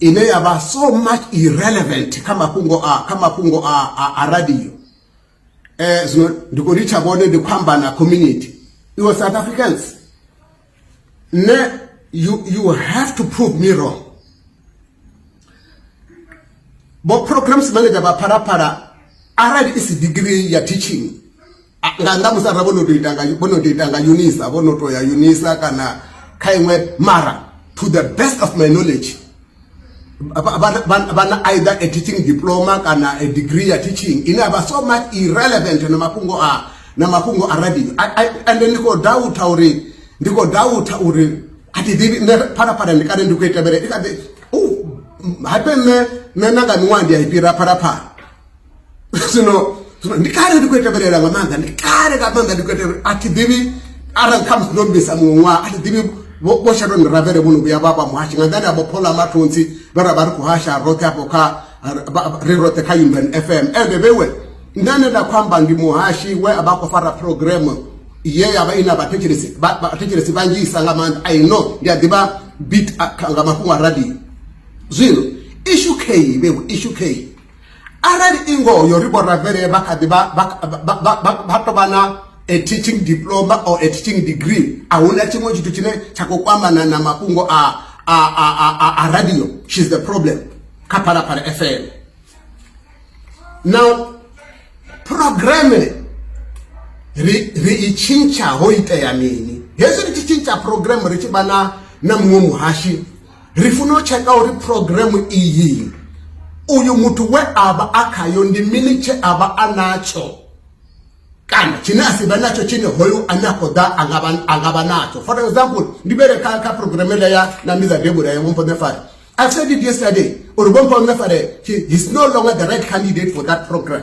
ine ya vha so much irrelevant kha mafhungo a kha mafhungo a a, a radio eh zwino ndi kho litsha vhone ndi khou amba na community iwe south africans ne you, you have to prove me wrong bo programs manager vha phalaphala arali i si degree ya teaching nga nnḓa musi arali vho no tou ita nga vho no tou ita nga unisa vho no tou ya unisa kana kha iṅwe mara to the best of my knowledge vha na either a teaching diploma kana a degree ya teaching ine a vha so much irrelevant na mafhungo a na mafhungo a radio and ndi khou doubta uri ndi khou doubta uri a thi ḓivhi nṋe phalaphala ndi kale ndi khou itevhele i kha ḓi hape nṋe nṋe na nga miṅwaha ndi a i fhira phalaphala zwino zwino ndi kale ndi khou tevhelela nga maanḓa ndi kale nga maanḓa ndi khou tevhelela a thi ḓivhi arali kha musi ndo mbisa muṅwe ṅwaha a thi ḓivhi vho tsha tou ndiravele vho no vhuya vha vha muhashi nga nḓani abo phola mathonsi vhe ra vha ri khou hasha roṱhe afho kha ri roṱhe kha umban f m ende vhewe nṋe ane nda khou amba ndi muhashi we a vha a khou fara programme ye ya vha i na vhathetshelesi vhanzhisa nga maanḓa i know ndi a ḓivha bit nga mafhungo a radio zwino ishu key vhewe ishu key arali i ngoyo ri vhoravhele vha kha ḓi vha tou vha na a teaching diploma or a teaching degree a huna tshiṅwe tshithu tshine tsha khou kwamana na mafhungo a a a a a radio she's the problem kha phalaphala fm now programme ri ri i tshintsha ho itea mini hezwi ri tshi tshintsha programme ri tshi vha na na muṅwe muhashi ri funa u tsheka uri programu iyi uyu muthu we a vha a khayo ndi mini tshe a vha a natsho kana tshine a si vhe natsho tshine hoyu ane a khou ḓa a nga vha natsho for example ndi vhele kha kha programu ele ya na ndi dza debula ya vhompo nefare i said it yesterday uri vhompo nefare he is no longer the right candidate for that program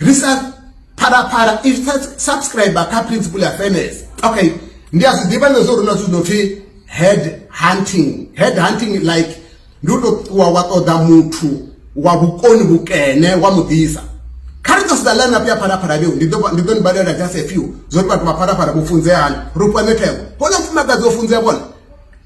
ri sa phalaphala if sa subscriber kha principle ya fairness okay ndi a zwi ḓivha ngezwo uri na zwithu no pfi head hunting head hunting like ndi u to ṱuwa wa ṱoḓa muthu wa vhukoni vhukene wa mu ḓisa kha ri ḓo sedza line up ya phalaphala vheu ndi ḓo ndi ḓo ni balela just a few zwo ri vhathu vha phalaphala vho funzea hani ro fhiwa mithego hone mufumakadzi o funzea vhone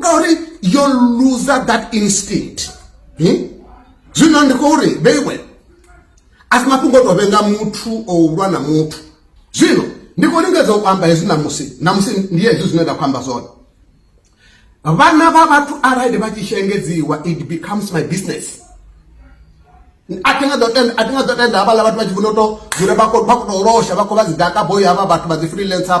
ngauri yo loser that instinct hmm? zwino ndi khou ri very well a si mafhungo o tou vhenga muthu o ulwa na muthu zwino ndi khou lingedza u amba hezwi namusi namusi ndi hezwi zwine nda khou amba zwone vhana vha vhathu arali vha tshi shengedziwa it becomes my business a thi nga ḓo tenda a thi nga ḓo tenda havhaḽa vhathu vha tshi funa u to dzula vha khou tou losha vha khou vha dzi daka boyi havha vhathu vha dzi freelancer